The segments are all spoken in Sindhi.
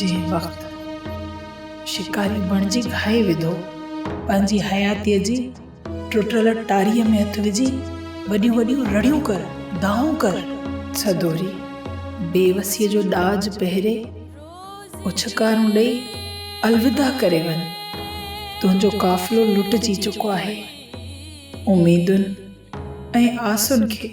جنهن وقت شڪاري بڻجي گهائي وڌو، پنهنجي حياتيء جي ٽٽل ٽاريء ۾ هٿ وجهي وڏيون وڏيون رڙيون ڪر، دانهون ڪر. سدوري بيوسيء جو ڏاج پهري اڇڪارون ڏئي الوداع ڪري وڃ، تنهنجو قافلو لٽجي چڪو آهي، اميدن ۽ آسن کي.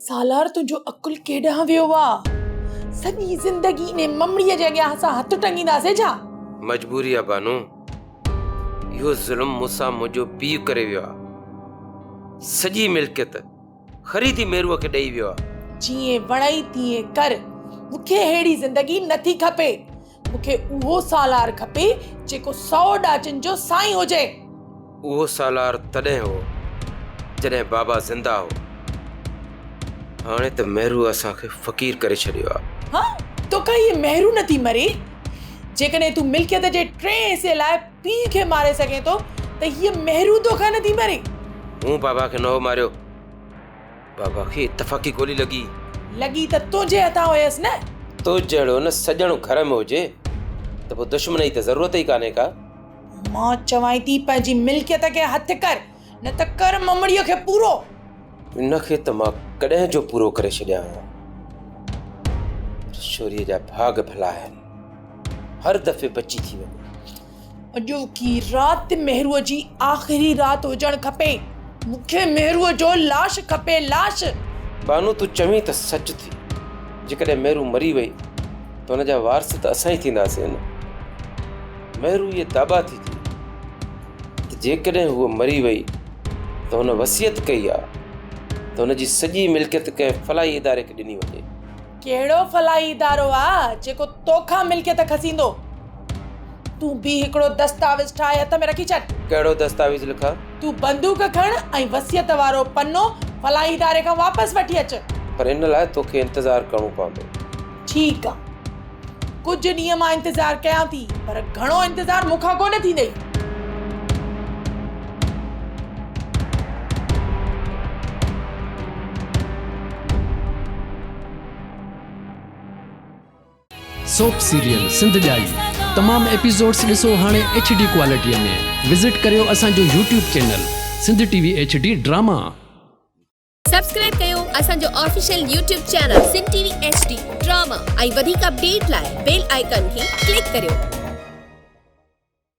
سالار تنهنجو عقل ڪيڏانهن ويو آ؟ سڄي زندگي انهي ممڙيء جي اڳيان اسان هٿ ٽنگينداسين ڇا؟ مجبوري آ بانو. اهو ظلم مون سان منهنجو پيء ڪري ويو آ. سڄي ملڪيت خريدي ميروء کي ڏئي ويو آ. جيئن وڻئي تيئن ڪر. مون کي ههڙي زندگي نٿي کپي. مون کي اهو سالار کپي، جيڪو سؤ ڏاچن جو سائين هجي. اهو سالار تڏهن هو، جڏهن بابا زنده هو. هاڻي ته مهرو اسان کي فقير ڪري ڇڏيو آهي. ها! توکان هيء مهرو نه ٿي مري. جيڪڏهن تون ملڪيت جي ٽئين حصي لاء پيء کي ماري سگهين ٿو، ته هيء مهرو توکان نه ٿي مري. مون بابا کي نه هو ماريو. بابا کي اتفاقي گولي لڳي. لڳي ته تنهنجي هٿان هيس نه. تو جهڙو نه سڄڻ گهر ۾ هجي ته پوء دشمن جي ته ضرورت ئي ڪانهي ڪا. مان چوانء ٿي پنهنجي ملڪيت کي هٿ ڪر نه ته ڪر ممڙيء کي پورو. ان کي ته مان ڪڏهن جو پورو ڪري ڇڏيان ها پر شوريء جا ڀاڳ ڀلا آهن هر دفعي بچي ٿي وڃي. اڄوڪي رات مهروء جي آخري رات هجڻ کپي. مون کي مهروء جو لاش کپي، لاش! بانو تون چوين ته سچ ٿي. جيڪڏهن مهرو مري وئي ته ان جا وارث ته اسان ئي ٿينداسين نه؟ مهرو اهي داٻا ٿي ڪئي ته جيڪڏهن هوء مري وئي ته هن وصيت ڪئي آهي ته هن جي سڄي ملڪيت ڪنهن فلاحي اداري کي ڏني وڃي. ڪهڙو فلاحي ادارو آ جيڪو توکان ملڪيت کسيندو. تون بيهه هڪڙو دستاويز ٺاهي هٿ ۾ رکي ڇڏ. ڪهڙو دستاويز لکان؟ تون بندوق کڻ ۽ وصيت وارو پنو فلاحي اداري کان واپس وٺي اچ. پر ان لاء توکي انتظار ڪرڻو پوندو. ٺيڪ آ. ڪجهه ڏينهن مان انتظار ڪيان ٿي پر گهڻو انتظار مون کان ڪونه ٿيندئي. سوپ سيريل سنڌ ڄائي تمام ايپيسوڊس ڏسو هاڻي ايڇ ڊي ڪوالٽي ۾ وزٽ ڪريو اسان جو YouTube channel Sindh T V H D drama. Subscribe ڪيو اسان جو official YouTube channel Sindh T V H D drama ۽ وڌيڪ اپڊيٽ لاء بيل آئيڪن کي ڪلڪ ڪريو.